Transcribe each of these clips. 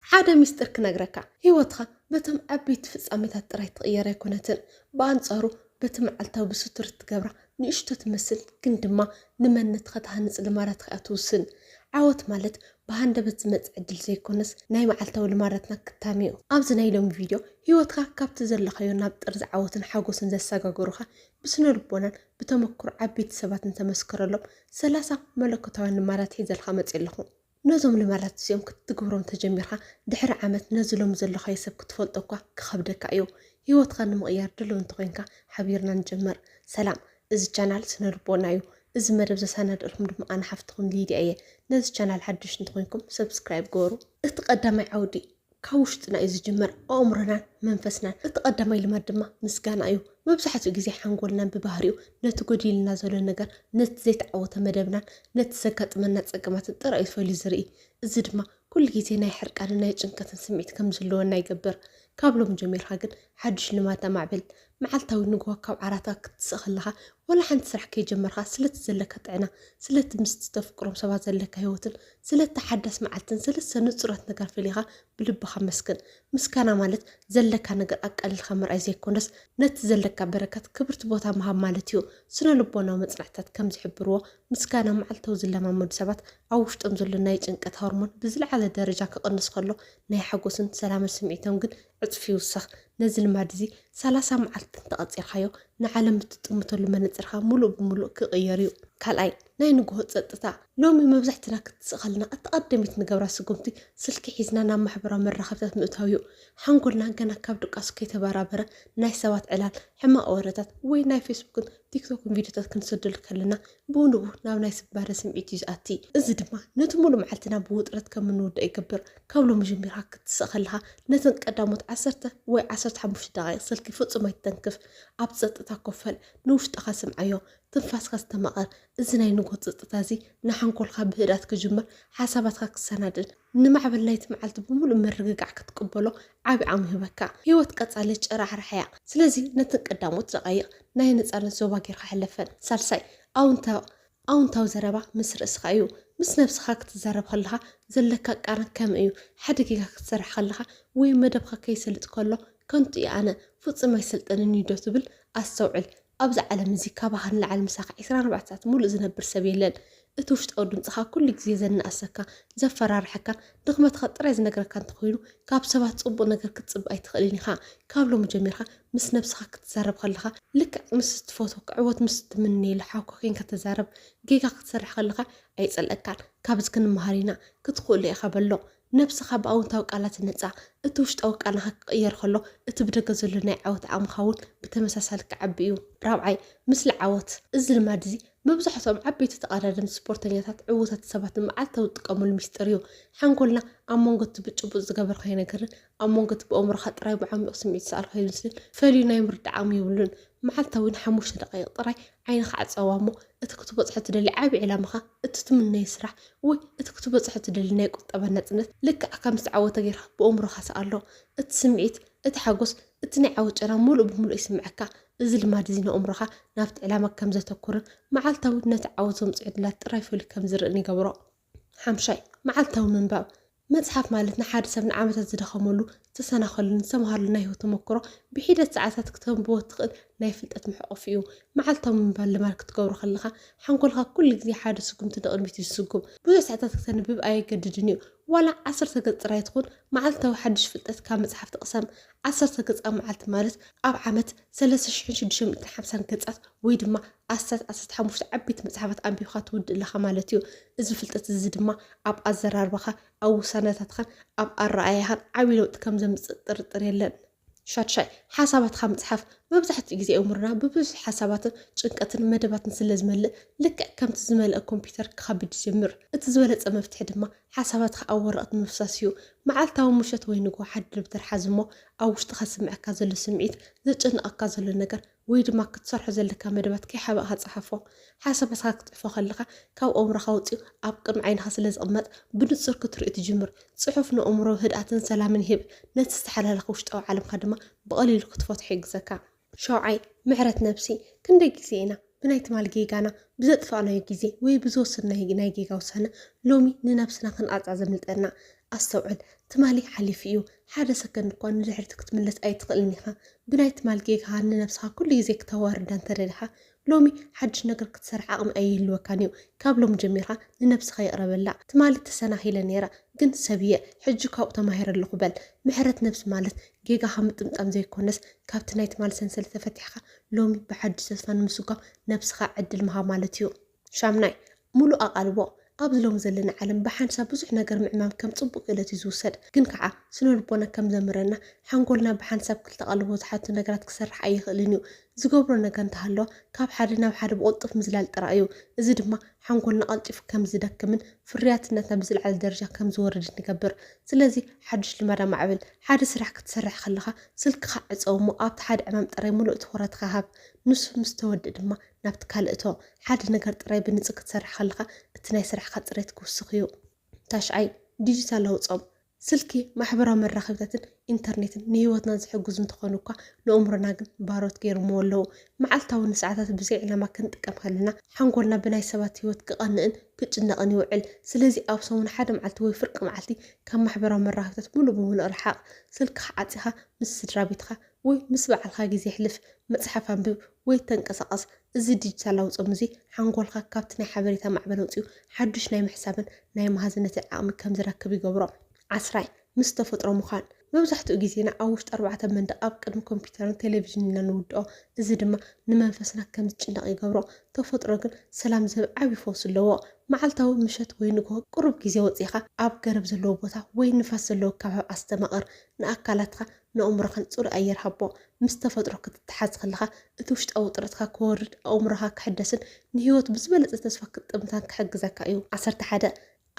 ሓደ ሚስጢር ክነግረካ፣ ህይወትካ በቶም ዓበይቲ ፍጻሜታት ጥራይ ትቕየር ኣይኮነትን። ብኣንጻሩ በቲ መዓልታዊ ብስቱር እትገብራ ንእሽቶ ትመስል ግን ድማ ንመንነትካ ትሃንጽ ልማዳት ኢኻ ትውስን። ዓወት ማለት ብሃንደበት ዝመጽእ ዕድል ዘይኮነስ ናይ መዓልታዊ ልማዳትና ክታም'ዩ። ኣብዚ ናይ ሎሚ ቪድዮ ህይወትካ ካብቲ ዘለኻዮ ናብ ጥርዚ ዓወትን ሓጎስን ዘሰጋገሩኻ ብስነልቦናን ብተመክሮ ዓበይቲ ሰባትን እተመስከረሎም ሰላሳ መለኮታውያን ልማዳት ሒዘልካ መጺኣ ኣለኹ። ነዞም ልማዳት እዚኦም ክትትግብሮም ተጀሚርካ ድሕሪ ዓመት ነዚ ሎሚ ዘለኻዮ ሰብ ክትፈልጦ እኳ ክኸብደካ እዩ። ህይወትካ ንምቕያር ድሉው እንተኾይንካ ሓቢርና ንጀምር። ሰላም እዚ ቻናል ስነልቦና እዩ። እዚ መደብ ዘሳናደእልኩም ድማ ኣነ ሓፍትኹም ሊድያ እየ። ነዚ ቻናል ሓደሽቲ እንተኾይንኩም ሰብስክራይብ ግበሩ። እቲ ቀዳማይ ዓውዲ ካብ ውሽጥና እዩ ዝጅምር፣ ኣእምሮናን መንፈስናን። እቲ ቀዳማይ ልማድ ድማ ምስጋና እዩ። መብዛሕትኡ ግዜ ሓንጎልና ብባህሪኡ ነቲ ጎዲሉና ዘሎ ነገር፣ ነቲ ዘይተዓወተ መደብናን ነቲ ዘጋጥመና ጸገማትን ጥራይ እዩ ፈልዩ ዝርኢ። እዚ ድማ ኩሉ ግዜ ናይ ሕርቃንን ናይ ጭንቀትን ስምዒት ከም ዝህልወና ይገብር። ካብ ሎሚ ጀሚርካ ግን ሓድሽ ልማድ ኣማዕብል። መዓልታዊ ንግሆ ካብ ዓራትካ ክትስእ ከለኻ፣ ዋላ ሓንቲ ስራሕ ከይጀመርካ፣ ስለቲ ዘለካ ጥዕና፣ ስለቲ ምስቲ ተፍቅሮም ሰባት ዘለካ ህይወትን ስለታ ሓዳስ መዓልትን ሰለስተ ንጹራት ነገራት ፈሊኻ ብልብኻ ኣመስግን። ምስጋና ማለት ዘለካ ነገር ኣቃሊልካ ምርኣይ ዘይኮነስ፣ ነቲ ዘለካ በረከት ክብርቲ ቦታ ምሃብ ማለት እዩ። ስነ-ልቦናዊ መጽናዕትታት ከም ዝሕብርዎ፣ ምስጋና መዓልታዊ ዝለማመዱ ሰባት ኣብ ውሽጦም ዘሎ ናይ ጭንቀት ሆርሞን ብዝለዓለ ደረጃ ክቕንስ ከሎ፣ ናይ ሓጎስን ሰላምን ስምዒቶም ግን ዕጽፊ ይውሰኽ፣ ነዚ ልማድ እዚ ሰላሳ መዓልቲ እንተ ቐጺርካዮ፣ ንዓለም እትጥምተሉ መነጽርካ ምሉእ ብምሉእ ክቕየር እዩ። ካልኣይ፣ ናይ ንግሆ ጸጥታ። ሎሚ መብዛሕትና ክትስእ ከለና እታ ቀዳመይቲ ንገብራ ስጉምቲ፣ ስልኪ ሒዝና ናብ ማሕበራዊ መራኸቢታት ምእታው እዩ። ሓንጎልናን ገና ካብ ድቃሱ ከይተበራበረ፣ ናይ ሰባት ዕላል፣ ሕማቕ ወረታት፣ ወይ ናይ ፌስቡክን ቲክቶክን ቪድዮታት ክንሰደሉ ከለና፣ ብኡ ንብኡ ናብ ናይ ስባረ ስምዒት እዩ ዝኣቲ። እዚ ድማ ነቲ ሙሉእ መዓልትና ብውጥረት ከም እንውድእ ይገብር። ካብ ሎሚ ጀሚርካ ክትስእ ከለኻ ነተን ቀዳሞት ዓሰርተ ወይ ዓሰርተ ሓሙሽተ ደቓይቕ ስልኪ ፍጹም ኣይትተንክፍ። ኣብ ጸጥታ ኮፍ በል፣ ንውሽጥኻ ስምዓዮ፣ ትንፋስካ ኣስተማቕር። እዚ ናይ ንግሆ ጸጥታ እዚ ንሓንጎልካ ብህድኣት ክጅምር፣ ሓሳባትካ ክሰናድን፣ ንማዕበል ናይቲ መዓልቲ ብምሉእ ምርግጋዕ ክትቅበሎ ዓቢ ዓቕሚ ይህበካ። ህይወት ቀጻሊ ጭራሕራሕ እያ፣ ስለዚ ነተን ቀዳሞት ደቓይቕ ናይ ነጻነት ዞባ ጌርካ ሕለፈን። ሳልሳይ፣ ኣውንታዊ ኣውንታዊ ዘረባ ምስ ርእስኻ እዩ። ምስ ነብስኻ ክትዛረብ ከለኻ ዘለካ ቃና ከመይ እዩ? ሓደ ጌጋ ክትሰርሕ ከለኻ ወይ መደብካ ከይሰልጥ ከሎ ከንቱ እየ ኣነ፣ ፍጹም ኣይሰልጥንን እዩዶ ትብል? ኣስተውዕል። ኣብዚ ዓለም እዚ ካባኻ ንላዕሊ ምሳኻ ዕስራን ኣርባዕተ ሰዓት ሙሉእ ዝነብር ሰብ የለን። እቲ ውሽጣዊ ድምጽኻ ኩሉ ግዜ ዘናእሰካ፣ ዘፈራርሐካ፣ ድኽመትኻ ጥራይ ዝነግረካ እንተኾይኑ ካብ ሰባት ጽቡቕ ነገር ክትጽበ ኣይትኽእልን ኢኻ። ካብ ሎሚ ጀሚርካ ምስ ነብስኻ ክትዛረብ ከለኻ ልክዕ ምስ እትፈትወካ ዕወት ምስ እትምነየሉ ሓውካ ኴንካ ተዛረብ። ጌጋ ክትሰርሕ ከለኻ ኣይጸልኣካን። ካብዚ ክንመሃር ኢና። ክትኽእሎ ኢኻ በሎ። ነብስኻ ብኣውንታዊ ቃላት ህነጻ። እቲ ውሽጣዊ ቃናኻ ክቕየር ከሎ፣ እቲ ብደገ ዘሎ ናይ ዓወት ዓቕምኻ እውን ብተመሳሳሊ ክዓቢ እዩ። ራብዓይ፣ ምስሊ ዓወት። እዚ ልማድ እዚ መብዛሕትኦም ዓበይቲ ተቐዳደምቲ ስፖርተኛታት ዕዉታት ሰባት ንመዓልታዊ ዝጥቀሙሉ ሚስጥር እዩ። ሓንጎልና ኣብ መንጎ እቲ ብጭቡጥ ዝገበርካዮ ነገርን ኣብ መንጎ እቲ ብኣእምሮኻ ጥራይ ብዓሚቝ ስምዒት ዝሰኣልካዮ ምስልን ፈልዩ ናይ ምርዳእ ዓቕሚ የብሉን። መዓልታዊ ንሓሙሽተ ደቓይቕ ጥራይ ዓይንኻ ዕጸዋ እሞ እቲ ክትበጽሖ እትደሊ ዓቢ ዕላማኻ፣ እቲ ትምነዮ ስራሕ፣ ወይ እቲ ክትበጽሖ እትደሊ ናይ ቁጠባ ናጽነት ልክዕ ከም ዝተዓወተ ጌርካ ብእምሮኻ ስኣሎ። እቲ ስምዒት፣ እቲ ሓጎስ፣ እቲ ናይ ዓወት ጨና ምሉእ ብምሉእ ይስምዓካ። እዚ ልማድ እዚ ንእምሮኻ ናብቲ ዕላማ ከም ዘተኩርን መዓልታዊ ነቲ ዓወት ዘምጽኡ ዕድላት ጥራይ ፈልዩ ከም ዝርእን ይገብሮ። ሓምሻይ፣ መዓልታዊ ምንባብ። መጽሓፍ ማለት ንሓደ ሰብ ንዓመታት ዝደኸመሉ፣ ዝተሰናኸለሉን ዝተመሃረሉን ናይ ህይወት ተመክሮ ብሒደት ሰዓታት ክተንብቦ እትኽእል ናይ ፍልጠት መሕቆፊ እዩ። መዓልታዊ ምንባብ ልማድ ክትገብሮ ከለኻ፣ ሓንጎልካ ኩሉ ግዜ ሓደ ስጉምቲ ንቕድሚት እዩ ዝስጉም። ብዙሕ ሰዓታት ክተንብብ ኣየገድድን እዩ። ዋላ ዓሰርተ ገጽ ጥራይ ትኹን፣ መዓልታዊ ሓድሽ ፍልጠት ካብ መጽሓፍቲ ቅሰም። ዓሰርተ ገጽ ኣብ መዓልቲ ማለት ኣብ ዓመት ሰለስተ ሽሕን ሽዱሽተ ሚእትን ሓምሳን ገጻት ወይ ድማ ኣስታት ዓሰርተ ሓሙሽተ ዓበይቲ መጽሓፋት ኣንቢብካ ትውድእ ኣለኻ ማለት እዩ። እዚ ፍልጠት እዚ ድማ ኣብ ኣዘራርባኻ፣ ኣብ ውሳነታትኻን ኣብ ኣረኣእያኻን ዓብዪ ለውጢ ከም ዘምጽእ ጥርጥር የለን። ሻድሻይ፣ ሓሳባትካ ምጽሓፍ። መብዛሕትኡ ግዜ ኣእምሮና ብብዙሕ ሓሳባትን ጭንቀትን መደባትን ስለ ዝመልእ፣ ልክዕ ከምቲ ዝመልአ ኮምፕዩተር ክኸብድ ይጅምር። እቲ ዝበለጸ መፍትሒ ድማ ሓሳባትካ ኣብ ወረቐት ምፍሳስ እዩ። መዓልታዊ ምሸት ወይ ንግሆ ሓደ ደብተር ሓዝ እሞ ኣብ ውሽጥኻ ዝስምዓካ ዘሎ ስምዒት፣ ዘጨንቐካ ዘሎ ነገር፣ ወይ ድማ ክትሰርሖ ዘለካ መደባት ከይሓበእካ ጽሓፎ። ሓሳባትካ ክትጽሕፎ ከለኻ ካብ ኣእምሮኻ ወጺኡ ኣብ ቅድሚ ዓይንኻ ስለ ዝቕመጥ ብንጹር ክትርእዮ ትጅምር። ጽሑፍ ንኣእምሮ ህድኣትን ሰላምን ይህብ፣ ነቲ ዝተሓላለኸ ውሽጣዊ ዓለምካ ድማ ብቐሊሉ ክትፈትሖ ይሕግዘካ። ሻውዓይ፣ ምሕረት ነብሲ። ክንደይ ግዜ ኢና ብናይ ትማሊ ጌጋና፣ ብዘጥፋእናዮ ግዜ ወይ ብዝወሰድናዮ ናይ ጌጋ ውሳነ ሎሚ ንነብስና ክንቐጽዓ ዘምልጠና? ኣስተውዕል፣ ትማሊ ሓሊፉ እዩ። ሓደ ሰከንድ እኳ ንድሕሪት ክትምለስ ኣይትኽእልን ኢኻ። ብናይ ትማል ጌጋኻ ንነብስኻ ኩሉ ግዜ ክተዋርዳ እንተደሊኻ፣ ሎሚ ሓድሽ ነገር ክትሰርሕ ዓቕሚ ኣይህልወካን እዩ። ካብ ሎሚ ጀሚርካ ንነብስኻ ይቕረ በላ። ትማሊ ተሰናኺለ ነይረ፣ ግን ሰብ እየ፣ ሕጂ ካብኡ ተማሂረ ኣለኹ በል። ምሕረት ነብሲ ማለት ጌጋኻ ምጥምጣም ዘይኮነስ፣ ካብቲ ናይ ትማሊ ሰንሰለት ተፈቲሕካ ሎሚ ብሓድሽ ተስፋ ንምስጓም ነብስኻ ዕድል ምሃብ ማለት እዩ። ሻምናይ፣ ምሉእ ኣቓልቦ፣ ኣብዚ ሎሚ ዘለና ዓለም ብሓንሳብ ብዙሕ ነገር ምዕማም ከም ጽቡቕ ክእለት እዩ ዝውሰድ። ግን ከኣ ስነልቦና ከም ዘምህረና ሓንጎልና ብሓንሳብ ክልተ ኣቓልቦ ዝሓቱ ነገራት ክሰርሕ ኣይኽእልን እዩ። ዝገብሮ ነገር እንተሃለወ ካብ ሓደ ናብ ሓደ ብቕልጡፍ ምዝላል ጥራይ እዩ። እዚ ድማ ሓንጎልና ቀልጢፉ ከም ዝደክምን ፍርያትነትና ብዝለዓለ ደረጃ ከም ዝወርድን ይገብር። ስለዚ ሓድሽ ልማድ ኣማዕብል። ሓደ ስራሕ ክትሰርሕ ከለኻ ስልክኻ ዕጸው እሞ ኣብቲ ሓደ ዕማም ጥራይ ምሉእ ትኹረትካ ሃብ። ንሱ ምስ ተወድእ ድማ ናብቲ ካልእ እቶ። ሓደ ነገር ጥራይ ብንጹር ክትሰርሕ ከለኻ እቲ ናይ ስራሕካ ጽሬት ክውስኽ እዩ። ታሽዓይ፣ ዲጂታላዊ ጾም። ስልኪ፣ ማሕበራዊ መራኸቢታትን ኢንተርኔትን ንህይወትና ዝሕግዙ እንተኾኑ እኳ ንእምሮና ግን ባሮት ገይሮምዎ ኣለዉ። መዓልታዊ ንሰዓታት ብዘይ ዕላማ ክንጥቀም ከለና ሓንጎልና ብናይ ሰባት ህይወት ክቐንእን ክጭነቕን ይውዕል። ስለዚ ኣብ ሰሙን ሓደ መዓልቲ ወይ ፍርቂ መዓልቲ ካብ ማሕበራዊ መራኸቢታት ምሉእ ብምሉእ ርሓቕ። ስልክኻ ዓጺኻ ምስ ስድራቤትካ። ወይ ምስ በዓልካ ግዜ ኣሕልፍ፣ መጽሓፍ ኣንብብ ወይ ተንቀሳቐስ። እዚ ዲጂታላዊ ጾም እዚ ሓንጎልካ ካብቲ ናይ ሓበሬታ ማዕበል ወጺኡ ሓዱሽ ናይ ምሕሳብን ናይ መሃዝነትን ዓቕሚ ከም ዝረክብ ይገብሮ። ዓስራይ፣ ምስ ተፈጥሮ ምዃን። መብዛሕትኡ ግዜና ኣብ ውሽጢ ኣርባዕተ መንደቕ ኣብ ቅድሚ ኮምፕዩተርን ቴሌቪዥንን ኢና እንውድኦ፣ እዚ ድማ ንመንፈስና ከም ዝጭነቕ ይገብሮ። ተፈጥሮ ግን ሰላም ዝህብ ዓቢ ፈውሲ ኣለዎ። መዓልታዊ ምሸት ወይ ንግሆ ቅሩብ ግዜ ወጺእካ ኣብ ገረብ ዘለዎ ቦታ ወይ ንፋስ ዘለዎ ከባቢ ኣስተማቕር። ንኣካላትካ ንኣእምሮኻን ጽሩይ ኣየር ሃቦ። ምስ ተፈጥሮ ክትተሓዝ ከለኻ፣ እቲ ውሽጣዊ ውጥረትካ ክወርድ፣ ኣእምሮኻ ክሕደስን ንህይወት ብዝበለጸ ተስፋ ክትጥምታን ክሕግዘካ እዩ። ዓሰርተ ሓደ፣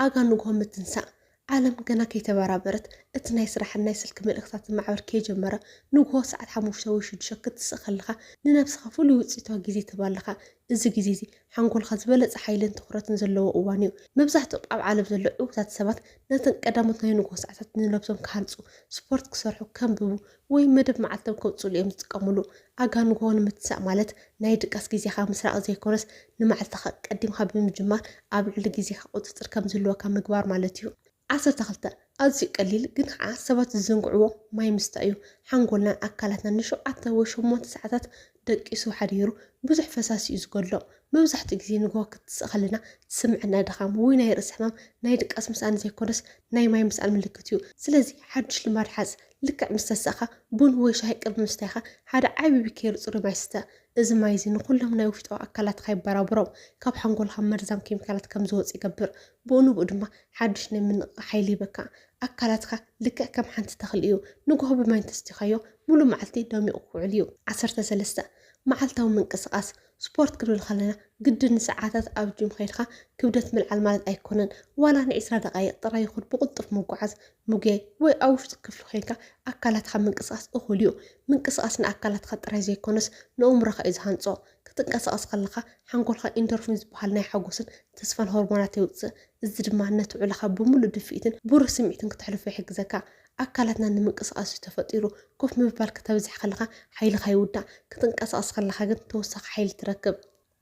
ኣጋ ንግሆ ምትንሳእ። ዓለም ገና ከይተበራበረት፣ እቲ ናይ ስራሕን ናይ ስልኪ መልእኽታትን ማዕበል ከይጀመረ፣ ንግሆ ሰዓት ሓሙሽተ ወይ ሽዱሽተ ክትስእ ከለኻ፣ ንነብስኻ ፍሉይ ውጽኢታዊ ግዜ ትህባ ኣለኻ። እዚ ግዜ'ዚ፣ ሓንጎልካ ዝበለጸ ሓይልን ትኹረትን ዘለዎ እዋን እዩ። መብዛሕትኦም ኣብ ዓለም ዘለዉ ዕዉታት ሰባት ነተን ቀዳሞት ናይ ንግሆ ሰዓታት ንነብሶም ክሃንጹ፣ ስፖርት ክሰርሑ፣ ከንብቡ ወይ መደብ መዓልቶም ከብጽሉ እዮም ዝጥቀሙሉ። ኣጋ ንግሆ ንምትሳእ ማለት ናይ ድቃስ ግዜኻ ምስራቕ ዘይኮነስ ንመዓልትኻ ቀዲምካ ብምጅማር ኣብ ልዕሊ ግዜኻ ቁጽጽር ከም ዝህልወካ ምግባር ማለት እዩ። ዓሰርተ ክልተ፣ ኣዝዩ ቀሊል ግን ኸኣ ሰባት ዝዘንግዕዎ ማይ ምስታይ እዩ። ሓንጎልናን ኣካላትናን ንሸውዓተ ወይ ሸሞንተ ሰዓታት ደቂሱ ሓዲሩ ብዙሕ ፈሳሲ እዩ ዝጎድሎ። መብዛሕትኡ ግዜ ንግሆ ክትስእ ከለና ዝስምዐና ድኻም ወይ ናይ ርእሲ ሕማም ናይ ድቃስ ምስኣን ዘይኮነስ ናይ ማይ ምስኣን ምልክት እዩ። ስለዚ ሓድሽ ልማድ ሓዝ። ልክዕ ምስ ተሳእካ ቡን ወይ ሻሂ ቅድሚ ምስታይካ ሓደ ዓቢ ብኬሪ ጽሩይ ማይ ስተ። እዚ ማይ እዚ ንኹሎም ናይ ውሽጣዊ ኣካላትካ የበራብሮም። ካብ ሓንጎልካ መርዛም ኬሚካላት ከም ዝወጽእ ይገብር። ብኡ ንብኡ ድማ ሓድሽ ናይ ምንቕቓሕ ሓይሊ ይህበካ። ኣካላትካ ልክዕ ከም ሓንቲ ተኽሊ እዩ፣ ንግሆ ብማይ እንተሰቲኻዮ ምሉእ መዓልቲ ደሚቑ ክውዕል እዩ። ዓሰርተ ሰለስተ፣ መዓልታዊ ምንቅስቓስ፣ ስፖርት ክንብል ከለና ግድን ንሰዓታት ኣብ ጂም ከይድካ ክብደት ምልዓል ማለት ኣይኮነን። ዋላ ንዒስራ ደቓይቕ ጥራይ ይኹን ብቕልጡፍ ምጉዓዝ፣ ምጉያይ ወይ ኣብ ውሽጢ ክፍሊ ኮይንካ ኣካላትካ ምንቅስቓስ እኹል እዩ። ምንቅስቓስ ንኣካላትካ ጥራይ ዘይኮነስ ንእምሮኻ እዩ ዝሃንጾ። ክትንቀሳቐስ ከለኻ ሓንጎልካ ኢንዶርፊን ዝበሃል ናይ ሓጎስን ተስፋን ሆርሞናት የውጽእ፣ እዚ ድማ ነቲ ውዕሎኻ ብምሉእ ድፍኢትን ብሩህ ስምዒትን ክተሕልፎ ይሕግዘካ። ኣካላትና ንምንቅስቓስ እዩ ተፈጢሩ። ኮፍ ምባል ከተብዝሕ ከለኻ ሓይልኻ ይውዳእ፣ ክትንቀሳቐስ ከለኻ ግን ተወሳኺ ሓይሊ ትረክብ።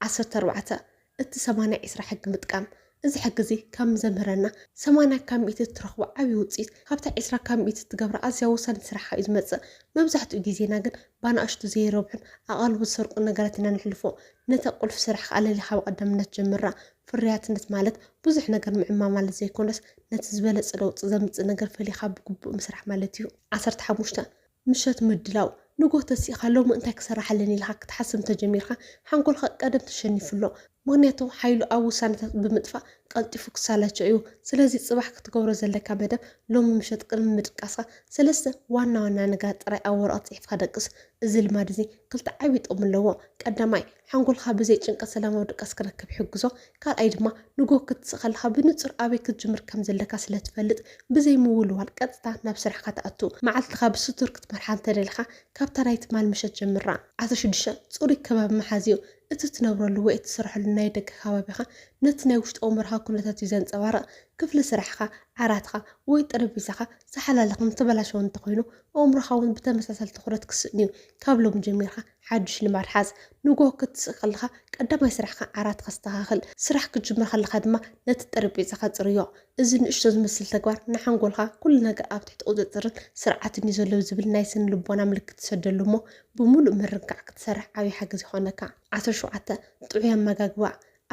ዓሰርተ ኣርባዕተ፣ እቲ ሰማንያ ዒስራ ሕጊ ምጥቃም። እዚ ሕጊ እዚ ከም ዘምህረና ሰማንያ ካብ ሚእቲ እትረኽቦ ዓብዪ ውፅኢት ካብታ ዒስራ ካብ ሚእቲ እትገብራ ኣዝያ ወሳኒት ስራሕኻ እዩ ዝመፅእ። መብዛሕትኡ ግዜና ግን ብኣናእሽቱ ዘይረብሑን ኣቓልቦ ዝሰርቁን ነገራት ኢና ነሕልፎ። ነታ ቁልፊ ስራሕካ ኣለሊኻ ብቐዳምነት ጀምራ። ፍርያትነት ማለት ብዙሕ ነገር ምዕማም ማለት ዘይኮነስ ነቲ ዝበለፀ ለውጢ ዘምፅእ ነገር ፈሊኻ ብግቡእ ምስራሕ ማለት እዩ። ዓሰርተ ሓሙሽተ፣ ምሸት ምድላው ንግሆ ተሲእኻ ሎሚ እንታይ ክሰርሕ ኣለኒ ኢልኻ ክትሓስብ እንተጀሚርካ ሓንጎልካ ቀደም ተሸኒፉ ኣሎ ምኽንያቱ ሓይሉ ኣብ ውሳነታት ብምጥፋእ ቀልጢፉ ክሳላቾ እዩ ስለዚ ጽባሕ ክትገብሮ ዘለካ መደብ ሎሚ ምሸት ቅድሚ ምድቃስካ ሰለስተ ዋና ዋና ነገራት ጥራይ ኣብ ወረቐት ጽሒፍካ ደቅስ እዚ ልማድ እዚ ክልተ ዓቢ ጥቕሚ ኣለዎ ቀዳማይ ሓንጎልካ ብዘይ ጭንቀት ሰላማዊ ድቃስ ክረክብ ይሕግዞ። ካልኣይ ድማ ንግሆ ክትስእ ከለኻ ብንጹር ኣበይ ክትጅምር ከም ዘለካ ስለ ትፈልጥ ብዘይ ምውልዋል ቀጥታ ናብ ስራሕካ ትኣቱ። መዓልትኻ ብስቱር ክትመርሓ እንተ ደሊኻ ካብታ ናይ ትማል ምሸት ጀምራ። ዓሰርተ ሽዱሽተ፣ ጽሩይ ከባቢ ምሓዝ እዩ። እቲ ትነብረሉ ወይ እትሰርሐሉ ናይ ደገ ከባቢኻ ነቲ ናይ ውሽጢ ኣእምሮኻ ኩነታት እዩ ዘንጸባርቕ። ክፍሊ ስራሕኻ፣ ዓራትካ፣ ወይ ጠረጴዛኻ ዝሓላለኸን ዝተበላሸወን እንተ ኾይኑ ኣእምሮኻ እውን ብተመሳሳሊ ትኹረት ክስእን እዩ። ካብ ሎሚ ጀሚርካ ሓዱሽ ልማድ ሓዝ፣ ንግሆ ክትስእ ከለኻ ቀዳማይ ስራሕካ ዓራት ከስተኻኽል፣ ስራሕ ክትጅምር ከለኻ ድማ ነቲ ጠረጴዛኻ ጽርዮ። እዚ ንእሽቶ ዝመስል ተግባር ንሓንጎልካ ኩሉ ነገር ኣብ ትሕቲ ቁጽጽርን ስርዓትን እዩ ዘሎ ዝብል ናይ ስነ-ልቦና ምልክት ትሰደሉ እሞ ብምሉእ ምርንካዕ ክትሰርሕ ዓቢ ሓገዝ ይኾነካ። ዓሰርተ ሸውዓተ፣ ጥዑይ ኣመጋግባ፣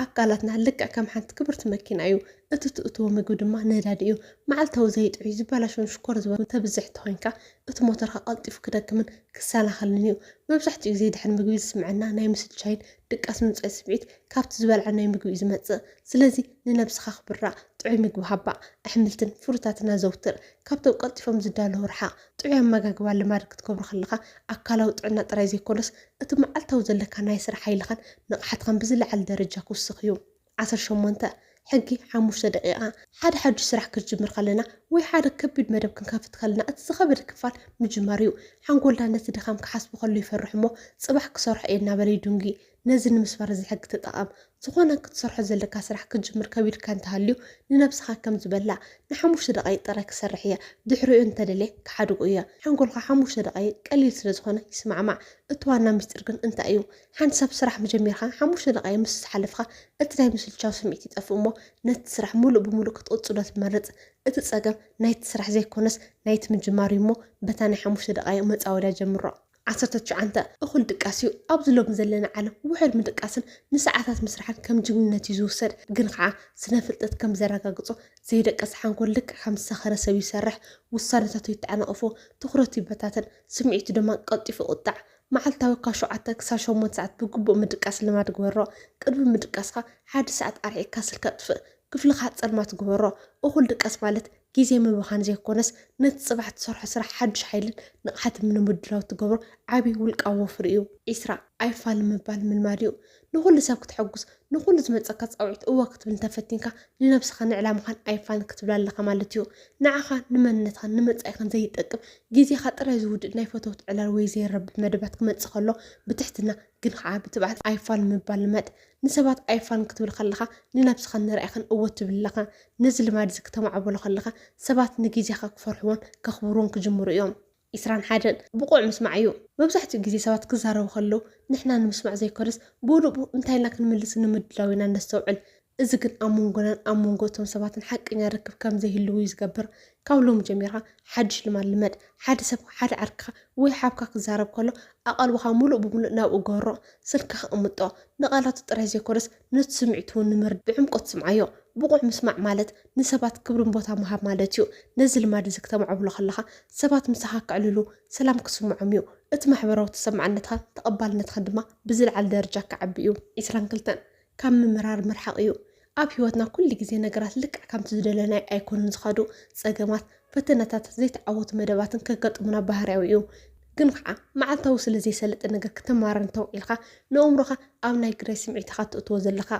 ኣካላትና ልክዕ ከም ሓንቲ ክብርቲ መኪና እዩ። እቲ ትእትዎ ምግቢ ድማ ነዳዲ እዩ። መዓልታዊ ዘይጥዑይ፣ ዝበላሾን ሽኮር ዝበዝሖን ተብዝሕ እንተኾይንካ፣ እቲ ሞተርካ ቀልጢፉ ክደክምን ክሰናኸልን እዩ። መብዛሕትኡ ግዜ ድሕሪ ምግቢ ዝስምዐና ናይ ምስልቻይን ድቃስ ምምጻይን ስምዒት ካብቲ ዝበላዕናዮ ምግቢ እዩ ዝመጽእ። ስለዚ ንነብስኻ ኣኽብራ፣ ጥዑይ ምግቢ ሃባ፣ ኣሕምልትን ፍሩታትን ኣዘውትር፣ ካብቶም ቀልጢፎም ዝዳለዉ ርሓቕ። ጥዑይ ኣመጋግባ ልማድ ክትገብሮ ከለኻ ኣካላዊ ጥዕና ጥራይ ዘይኮነስ፣ እቲ መዓልታዊ ዘለካ ናይ ስራሕ ሓይልኻን ንቕሓትኻን ብዝለዓለ ደረጃ ክውስኽ እዩ። ዓሰርተ ሸሞንተ፣ ሕጊ ሓሙሽተ ደቒቓ፣ ሓደ ሓዱሽ ስራሕ ክንጅምር ከለና ወይ ሓደ ከቢድ መደብ ክንከፍት ከለና እቲ ዝኸበደ ክፋል ምጅማር እዩ። ሓንጎልና ነቲ ድኻም ክሓስቦ ከሎ ይፈርሕ እሞ ጽባሕ ክሰርሖ እየ እናበለ ይድንጒ። ነዚ ንምስባር እዚ ሕጊ ተጠቐም። ዝኾነ ክትሰርሖ ዘለካ ስራሕ ክትጅምር ከቢድካ እንተሃልዩ ንነብስኻ ከምዚ በላ፣ ንሓሙሽተ ደቓይቕ ጥራይ ክሰርሕ እየ፣ ድሕሪኡ እንተደልየ ክሓድጎ እየ። ሓንጎልካ ሓሙሽተ ደቓይቕ ቀሊል ስለዝኾነ ይስማዕማዕ። እቲ ዋና ምስጢር ግን እንታይ እዩ? ሓንቲ ሰብ ስራሕ ምጀሚርካ ሓሙሽተ ደቓይቕ ምስ ዝሓለፍካ እቲ ናይ ምስልቻው ስምዒት ይጠፍእ እሞ ነቲ ስራሕ ምሉእ ብምሉእ ክትቕጽሎ ትመርጽ። እቲ ጸገም ናይቲ ስራሕ ዘይኮነስ ናይቲ ምጅማር እዩ እሞ በታ ናይ ሓሙሽተ ደቓይቕ መጻወድያ ጀምሮ። ዓሰርተ ትሽዓንተ፣ እኹል ድቃስ እዩ። ኣብዚ ሎሚ ዘለና ዓለም ውሑድ ምድቃስን ንሰዓታት ምስራሕን ከም ጅግንነት እዩ ዝውሰድ። ግን ኸዓ ስነ ፍልጠት ከም ዘረጋግጾ ዘይደቀሰ ሓንጎል ልክዕ ከም ዝሰኸረ ሰብ ይሰርሕ፣ ውሳነታቱ ይተዓናቐፎ፣ ትኹረቱ ይበታተን፣ ስምዒቱ ድማ ቀልጢፉ ይቑጣዕ። መዓልታዊ ካብ ሸውዓተ ክሳብ ሸሞንተ ሰዓት ብግቡእ ምድቃስ ልማድ ግበሮ። ቅድሚ ምድቃስካ ሓደ ሰዓት ኣርሒቕካ ስልኪ ኣጥፍእ። ክፍልኻ ጸልማት ግበሮ። እኹል ድቀስ ማለት ግዜ ምብኻን ዘይኮነስ ነቲ ጽባሕ ትሰርሖ ስራሕ ሓዱሽ ሓይልን ንቕሓትን ንምድላው እትገብሮ ዓቢ ውልቃዊ ወፍሪ እዩ። ዒስራ፣ ኣይፋል ምባል ምልማድ እዩ። ንኹሉ ሰብ ክተሐጉስ፣ ንኹሉ ዝመጸካ ጻውዒት እወ ክትብል እንተፈቲንካ ንነብስኻን ንዕላማኻን ኣይፋል ክትብላ ኣለኻ ማለት እዩ። ንዓኻ፣ ንመንነትኻን ንመጻኢኻን ዘይጠቅም፣ ግዜኻ ጥራይ ዝውድእ ናይ ፈተውቲ ዕላል ወይ ዘይረብሕ መደባት ክመጽእ ከሎ ብትሕትና ግን ኸዓ ብትብዓት ኣይፋል ምባል ልመድ። ንሰባት ኣይፋል ክትብል ከለኻ ንነብስኻን ንራኢኻን እወ ትብል ኣለኻ። ነዚ ልማድዚ ክተማዕብሎ ከለኻ ሰባት ንጊዜኻ ክፈርሕዎን ከኽብርዎን ክጅምሩ እዮም። ዕስራን ሓደን ብቑዕ ምስማዕ እዩ። መብዛሕትኡ ጊዜ ሰባት ክዛረቡ ከለዉ ንሕና ንምስማዕ ዘይኮነስ ብኡንብኡ እንታይ ኢልና ክንምልስ ንምድላው ኢና ነስተውዕል። እዚ ግን ኣብ መንጎናን ኣብ መንጎ እቶም ሰባትን ሓቀኛ ርክብ ከም ዘይህልው እዩ ዝገብር። ካብ ሎሚ ጀሚርካ ሓድሽ ልማድ ልመድ። ሓደ ሰብ ሓደ ዓርክኻ ወይ ሓብካ ክዛረብ ከሎ ኣቓልቦኻ ምሉእ ብምሉእ ናብኡ ገሮ። ስልክኻ ኣቕምጦ። ንቓላቱ ጥራይ ዘይኮነስ ነቲ ስምዒቱ እውን ንምርዳእ ብዕምቆት ስምዓዮ። ብቑዕ ምስማዕ ማለት ንሰባት ክብርን ቦታ ምሃብ ማለት እዩ። ነዚ ልማድ እዚ ክተማዕብሎ ከለኻ ሰባት ምሳኻ ከዕልሉ፣ ሰላም ክስምዖም እዩ። እቲ ማሕበራዊ ተሰማዕነትኻን ተቐባልነትኻን ድማ ብዝለዓለ ደረጃ ክዓቢ እዩ። ዕስራን ክልተን። ካብ ምምራር ምርሓቕ እዩ። ኣብ ህይወትና ኩሉ ግዜ ነገራት ልክዕ ከምቲ ዝደለናዮ ኣይኮኑን ዝኸዱ። ጸገማት፣ ፈተነታትን ዘይተዓወቱ መደባትን ከጋጥሙና ባህርያዊ እዩ። ግን ኸዓ መዓልታዊ ስለ ዘይሰልጥ ነገር ክተማርር እንተውዒልካ ንእምሮኻ ኣብ ናይ ግዳይ ስምዒት ኢኻ እትእትዎ ዘለኻ።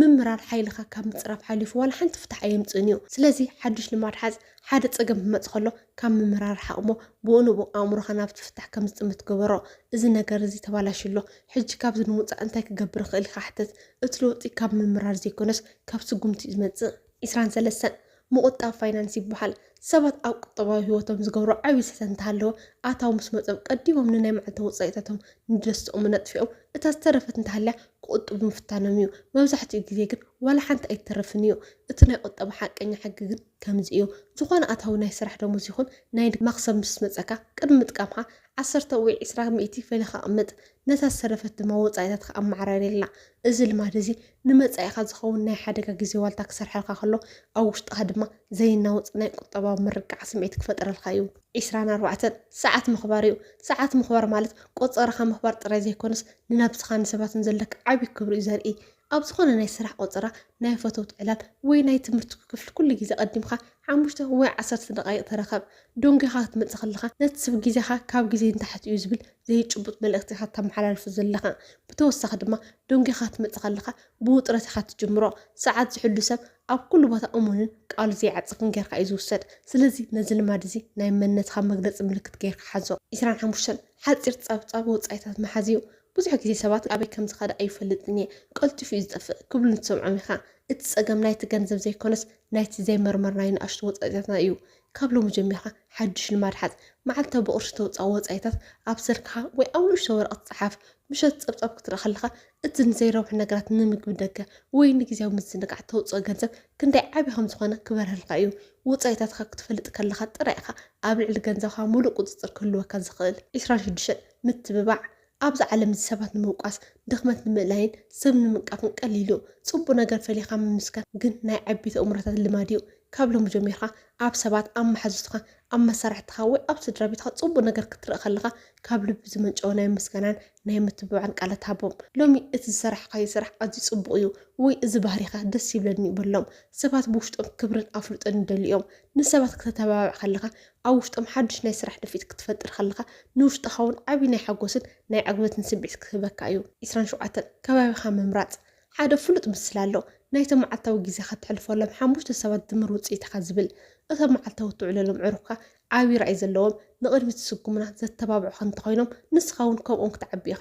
ምምራር ሓይልኻ ካብ ምጽራፍ ሓሊፉ ዋላ ሓንቲ ፍታሕ ኣየምጽእን እዩ። ስለዚ ሓዱሽ ልማድ ሓዝ፣ ሓደ ጸገም ክመጽእ ከሎ ካብ ምምራር ርሓቕ'ሞ ብኡንብኡ ኣእምሮኻ ናብቲ ፍታሕ ከም ዝጥምት ግበሮ። እዚ ነገር እዚ ተባላሽዩ ኣሎ። ሕጂ ካብዚ ንምውጻእ እንታይ ክገብር እኽእል ኢልካ ሕተት። እቲ ለውጢ ካብ ምምራር ዘይኮነስ ካብ ስጉምቲ እዩ ዝመጽእ። ዕስራን ሰለስተን፣ ምቑጣብ ፋይናንስ ይበሃል። ሰባት ኣብ ቁጠባዊ ህይወቶም ዝገብርዎ ዓቢ ስህተት እንተሃለወ፣ ኣታዊ ምስ መጾም ቀዲሞም ንናይ መዓልታዊ ወጻኢታቶም፣ ንደስትኦምን ኣጥፊኦም እታ ዝተረፈት እንተሃልያ ክቑጥቡ ምፍታኖም እዩ። መብዛሕትኡ ግዜ ግን ዋላ ሓንቲ ኣይትተርፍን እዩ። እቲ ናይ ቁጠባ ሓቀኛ ሕጊ ግን ከምዚ እዩ። ዝኾነ ኣታዊ ናይ ስራሕ ደሞዝ ይኹን ናይ ንግዲ መኽሰብ ምስ መጸካ ቅድሚ ምጥቃምካ ዓሰርተ ወይ ዕስራ ሚእቲ ፈሊኻ ኣቕምጥ፣ ነታ ዝተረፈት ድማ ወጻኢታትካ ኣመዓራርየላ። እዚ ልማድ እዚ ንመጻኢኻ ዝኸውን ናይ ሓደጋ ግዜ ዋልታ ክሰርሓልካ ከሎ፣ ኣብ ውሽጥኻ ድማ ዘይናወጽ ናይ ቁጠባዊ ምርግጋዕ ስምዒት ክፈጥረልካ እዩ። ዕስራን ኣርባዕተን፣ ሰዓት ምኽባር እዩ። ሰዓት ምኽባር ማለት ቆጸራኻ ምኽባር ጥራይ ዘይኮነስ፣ ንነብስኻን ንሰባትን ዘለካ ዓቢ ክብሪ እዩ ዘርኢ። ኣብ ዝኾነ ናይ ስራሕ ቆጸራ፣ ናይ ፈተውት ዕላል ወይ ናይ ትምህርትኩ ክፍሊ ኩሉ ግዜ ቀዲምካ ሓሙሽተ ወይ ዓሰርተ ደቓይቕ ተረከብ። ዶንጊኻ ክትመጽእ ከለኻ ነቲ ስብ ግዜኻ ካብ ግዜይ ንታሕቲ እዩ ዝብል ዘይጭቡጥ መልእኽቲ ኢኻ እተመሓላልፎ ዘለኻ። ብተወሳኺ ድማ ዶንጊኻ ክትመጽእ ከለኻ ብውጥረት ኢኻ እትጅምሮ። ሰዓት ዝሕሉ ሰብ ኣብ ኩሉ ቦታ እሙንን ቃሉ ዘይዓጽፍን ጌርካ እዩ ዝውሰድ። ስለዚ ነዚ ልማድ እዚ ናይ መንነትኻ መግለጺ ምልክት ጌርካ ሓዞ። ዕስራን ሓሙሽተን ሓጺር ጸብጻብ ወጻኢታት ምሓዝ እዩ። ብዙሕ ግዜ ሰባት ኣበይ ከም ዝኸደ ኣይፈልጥን እየ፣ ቀልጢፉ እዩ ዝጠፍእ ክብሉ ትሰምዖም ኢኻ። እቲ ጸገም ናይቲ ገንዘብ ዘይኰነስ ናይቲ ዘይመርመርናዮ ንኣሽቱ ወጻኢታትና እዩ። ካብ ሎሚ ጀሚርካ ሓድሽ ልማድ ሓዝ። መዓልታዊ ብቕርሺ እተውጽኣ ወጻኢታት ኣብ ሰልክኻ ወይ ኣብ ንእሽቶ ወረቐት ጸሓፍ። ምሸት ጸብጻብ ክትርኢ ከለኻ እቲ ንዘይረብሑ ነገራት፣ ንምግቢ ደገ፣ ወይ ንግዝያዊ ምዝንጋዕ እተውጽኦ ገንዘብ ክንደይ ዓቢ ከም ዝዀነ ክበርሀልካ እዩ። ወጻኢታትካ ክትፈልጥ ከለኻ ጥራይ ኢኻ ኣብ ልዕሊ ገንዘብካ ምሉእ ቍጽጽር ክህልወካ ዝኽእል። ዕስራን ሽዱሽተን። ምትብባዕ ኣብዛ ዓለም እዚ ሰባት ንምውቃስ ድኽመት ንምእላይን ሰብ ንምንቃፍን ቀሊል እዩ ጽቡቅ ነገር ፈሊኻ ምምስካር ግን ናይ ዐቢይቲ ኣእምሮታት ልማድ እዩ ካብ ሎሚ ጀሚርካ ኣብ ሰባት ኣብ መሓዙትካ ኣብ መሳርሕትኻ ወይ ኣብ ስድራቤትካ ጽቡቅ ነገር ክትርኢ ከለኻ ካብ ልቢ ዝመንጨወ ናይ ምስጋናን ናይ ምትብባዕን ቃላት ሃቦም ሎሚ እቲ ዝሰራሕካዮ ስራሕ ኣዝዩ ጽቡቅ እዩ ወይ እዚ ባህሪኻ ደስ ይብለኒ በሎም ሰባት ብውሽጦም ክብርን ኣፍልጦን ይደልዩ እዮም ንሰባት ክተተባብዕ ከለኻ ኣብ ውሽጦም ሓድሽ ናይ ስራሕ ድፍኢት ክትፈጥር ከለኻ ንውሽጥኻ'ውን ዓቢ ናይ ሓጎስን ናይ ዕግበትን ስምዒት ክህበካ እዩ። ዕስራን ሸውዓተን፣ ከባቢኻ ምምራጽ። ሓደ ፍሉጥ ምስላ ኣሎ፣ ናይቶም መዓልታዊ ግዜኻ እተሕልፈሎም ሓሙሽተ ሰባት ድምር ውጽኢትኻ ዝብል። እቶም መዓልታዊ እትውዕለሎም ኣዕሩኽካ ዓቢ ራእይ ዘለዎም፣ ንቕድሚት ዝስጉሙና፣ ዘተባብዑኻ እንተኾይኖም፣ ንስኻ'ውን ከምኦም ክትዓቢ ኢኻ።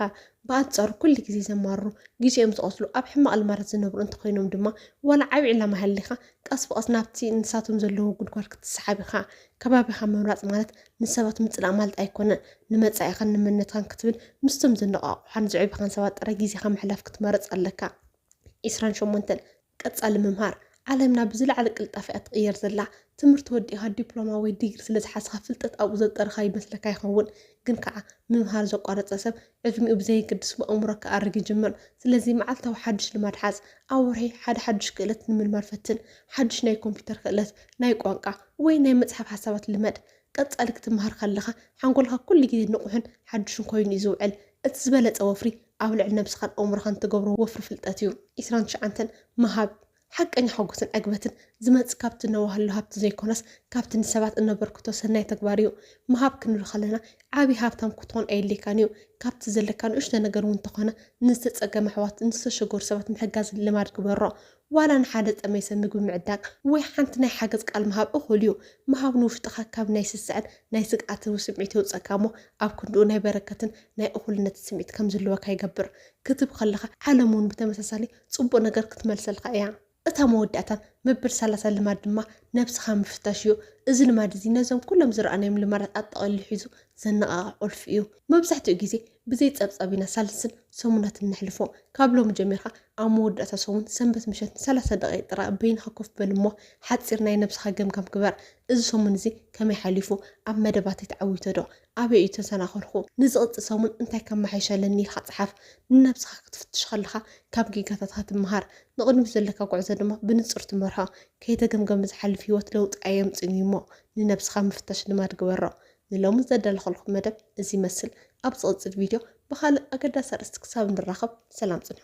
ብኣንጻሩ ኩሉ ግዜ ዘማርሩ፣ ግዜኦም ዝቐትሉ፣ ኣብ ሕማቕ ልማዳት ዝነብሩ እንተኾይኖም ድማ፣ ዋላ ዓቢ ዕላማ ይሃልይካ፣ ቀስ ብቐስ ናብቲ ንሳቶም ዘለዎ ጉድጓድ ክትሰሓብ ኢኻ። ከባቢኻ ምምራጽ ማለት ንሰባት ምጽላእ ማለት ኣይኮነን። ንመጻኢኻን ንመንነትካን ክትብል ምስቶም ዘነቓቕሑኻን ዘዕብዩኻን ሰባት ጥራይ ግዜኻ ምሕላፍ ክትመርጽ ኣለካ። ዕስራን ሸሞንተን፣ ቀጻሊ ምምሃር። ዓለምና ብዝለዓለ ቅልጣፈ እያ ትቕየር ዘላ። ትምህርቲ ወዲእኻ ዲፕሎማ ወይ ዲግሪ ስለ ዝሓዝካ ፍልጠት ኣብኡ ዘጠርኻ ይመስለካ ይኸውን። ግን ከኣ ምምሃር ዘቋረጸ ሰብ ዕድሚኡ ብዘየገድስ ብኣእምሮ ክኣርግ ይጅምር። ስለዚ መዓልታዊ ሓድሽ ልማድ ሓዝ። ኣብ ወርሒ ሓደ ሓድሽ ክእለት ንምልማድ ፈትን። ሓድሽ ናይ ኮምፒዩተር ክእለት፣ ናይ ቋንቋ፣ ወይ ናይ ምጽሓፍ ሓሳባት ልመድ። ቀጻሊ ክትመሃር ከለኻ ሓንጎልካ ኩሉ ግዜ ንቑሕን ሓድሽን ኮይኑ እዩ ዝውዕል። እቲ ዝበለጸ ወፍሪ ኣብ ልዕሊ ነብስኻን ኣእምሮኻን እትገብሮ ወፍሪ ፍልጠት እዩ። ዕስራን ትሽዓንተን፣ ምሃብ ሓቀኛ ሓጎስን ዕግበትን ዝመጽእ ካብቲ እነዋህሎ ሃብቲ ዘይኮነስ፣ ካብቲ ንሰባት እነበርክቶ ሰናይ ተግባር እዩ። ምሃብ ክንብል ከለና ዓቢ ሃብታም ክትኮን ኣየድልየካን እዩ። ካብቲ ዘለካ ንእሽቶ ነገር እውን እንተኾነ ንዝተጸገሙ ኣሕዋት፣ ንዝተሸገሩ ሰባት ምሕጋዝ ልማድ ግበሮ። ዋላ ንሓደ ዝጠመየ ሰብ ምግቢ ምዕዳግ ወይ ሓንቲ ናይ ሓገዝ ቃል ምሃብ እኹል እዩ። ምሃብ ንውሽጥኻ ካብ ናይ ስስዐን ናይ ስግኣትን ስምዒት የውጽኣካ እሞ ኣብ ክንድኡ ናይ በረከትን ናይ እኹልነትን ስምዒት ከም ዝህልወካ ይገብር። ክትህብ ከለኻ ዓለም እውን ብተመሳሳሊ ጽቡቕ ነገር ክትመልሰልካ እያ። እታ መወዳእታ መበል ሰላሳ ልማድ ድማ ነብስኻ ምፍታሽ እዩ። እዚ ልማድ እዚ ነዞም ኩሎም ዝረኣናዮም ልማዳት ኣጠቐሊሉ ሒዙ ዘነቓቕሕ ቁልፊ እዩ። መብዛሕትኡ ግዜ ብዘይ ጸብጻብ ኢና ሳልስን ሰሙናትን ነሕልፎ። ካብ ሎሚ ጀሚርካ ኣብ መወዳእታ ሰሙን ሰንበት ምሸት ንሰላሳ ደቒቕ ጥራይ በይንኻ ኮፍ በል እሞ ሓጺር ናይ ነብስኻ ገምጋም ግበር። እዚ ሰሙን እዚ ከመይ ሓሊፉ? ኣብ መደባተይ ተዓዊተዶ? ኣበይ እዩ ተሰናኸልኩ? ንዝቕጽል ሰሙን እንታይ ከመሓይሽ ኣለኒ ኢልካ ጽሓፍ። ንነብስኻ ክትፍትሽ ከለኻ ካብ ጌጋታትካ ትመሃር፣ ንቕድሚት ዘለካ ጉዕዞ ድማ ብንጹር ትመርሖ። ከይተገምገመ ዝሓልፍ ህይወት ለውጢ ኣየምጽእን እዩ'ሞ ንነብስኻ ምፍታሽ ልማድ ግበሮ። ንሎሚ ዘዳለኹልኩም መደብ እዚ ይመስል። ኣብ ዝቕጽል ቪድዮ ብኻልእ ኣገዳሲ ኣርእስቲ ክሳብ ንራኸብ ሰላም ጽንሑ።